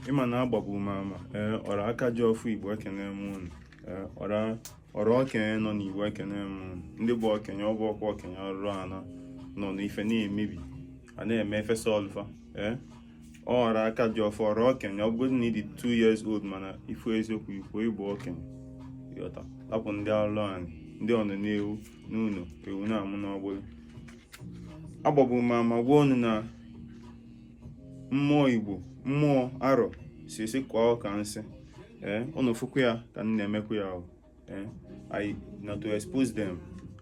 ị ma na agbabu m ama ee ọra aka ji ọfọ igbo ekene m unu ee ọra ọra okenye nọ n'igbo ekene m unu ndị bụ okenye ọ bụ ọkwa okenye ọrụ ana nọ n'ife na-emebi a na-eme efesa ọlụ fa ee ọ ọra aka ji ọfọ ọra okenye ọ bụgodị na ị dị 2 years old mana ị fụ eziokwu i kwuo ị bụ okenye yọta lapụ ndị alụ anyị ndị ọnọ na-ewu n'ụlọ ewu na-amụ n'ọgbụrị agbabu m ama gwa unu na mmụọ igbo mmụọ arọ sị sị kụọ ụka nsị ee unu fụkwa ya ka m na-emekwa ya ee i na to expose them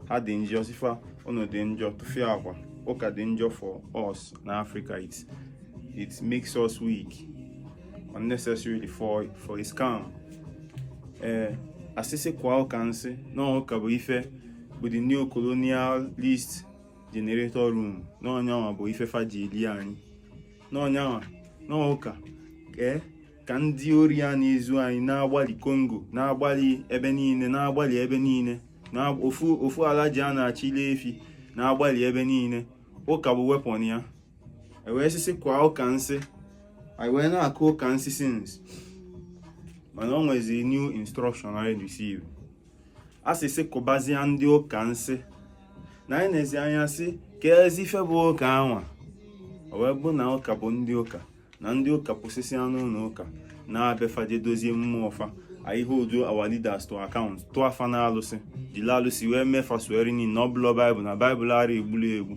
ha dị njọ sị fa unu dị njọ tụfịakwa ụka dị njọ for us na africa it it makes us weak unnecessarily for for a scam ee a sị sị kụọ ụka nsị na ụka bụ ife bụ the neo-colonialist generator room na ọ nyanwa bụ ife fa ji eli anyị na ọ nyanwa n'ụka ee eh, ka ndị ori a na-ezu anyị na-agbalị congo na-agbalị ebe niile na-agbalị ebe niile na ofu ofu alhaji a na-achịlị efi na-agbalị ebe niile ụka bụ weapon ya e wee sị sị kụọ ụka nsị anyị wee na-akụ ụka nsị since mana o nwezi new instruction anyị receive a sị sị kụbazie ndị ụka nsị na anyị nezie anya sị ka ezi ife bụ ụka anwa o wee bụ na ụka bụ ndị ụka na ndị ụka pụsịsịa n'ụnọ ụka na-abịa fa je dozie mmụọ fa anyị wee hold our leaders to account tụọ fa n'alụsị jiri alụsị wee mee fa swearing in na ọ bụlọ bible na bible ara egbuli egbu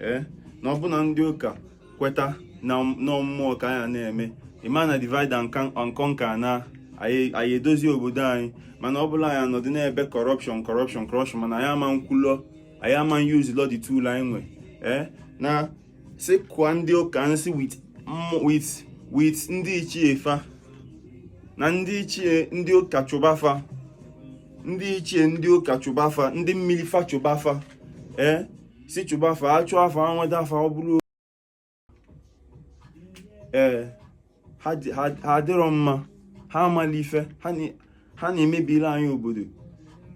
ee eh? na ọbụna ndị ụka kweta na mmụọ ka anyị na-eme ị ma na divide and conquer na anyị edozi obodo anyị mana ọ bụlụ anyị anọdụ na-ebe corruption corruption corruption mana anyị ama nkwulọ anyị ama use lọ the tool anyị nwe eh? na sị kụọ ndị ụka nsị with with ndị ichie fa na ndị ichie ndị ụka chụba fa ndị ichie ndị ụka chụba fa ndị mmiri fa chụba fa ee eh? sị chụba fa a chụa fa nweta fa ọ bụrụ ee ha adịrọ mma ha amala ife ha na-emebiri anyị obodo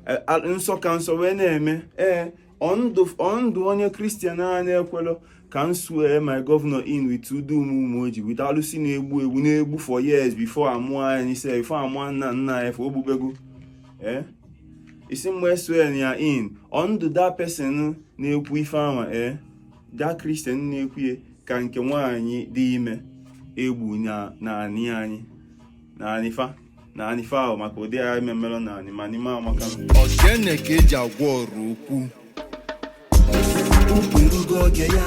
e, nsọ ka nsọ wee na-eme ee and onye christian a na-ekwelọ ka m swear my governor in with udo ụmụoji with alụsị na-egbu egbu na-egbu for years before a mụọ anyị sef before a mụọ nna nna anyị fa o gbubego ee ị sị m ma swear ya in and the person na-ekwu ife anwa ee the christian na-ekwu ya ka nke nwaanyị dị ime egbu na naanị anyị n'ani fa n'ani fa ahụ maka ụdị agha ememere na anị ma n'ime amaka ọchịene ka eji agwọ ọrụ ukwu ukwu erugo oge ya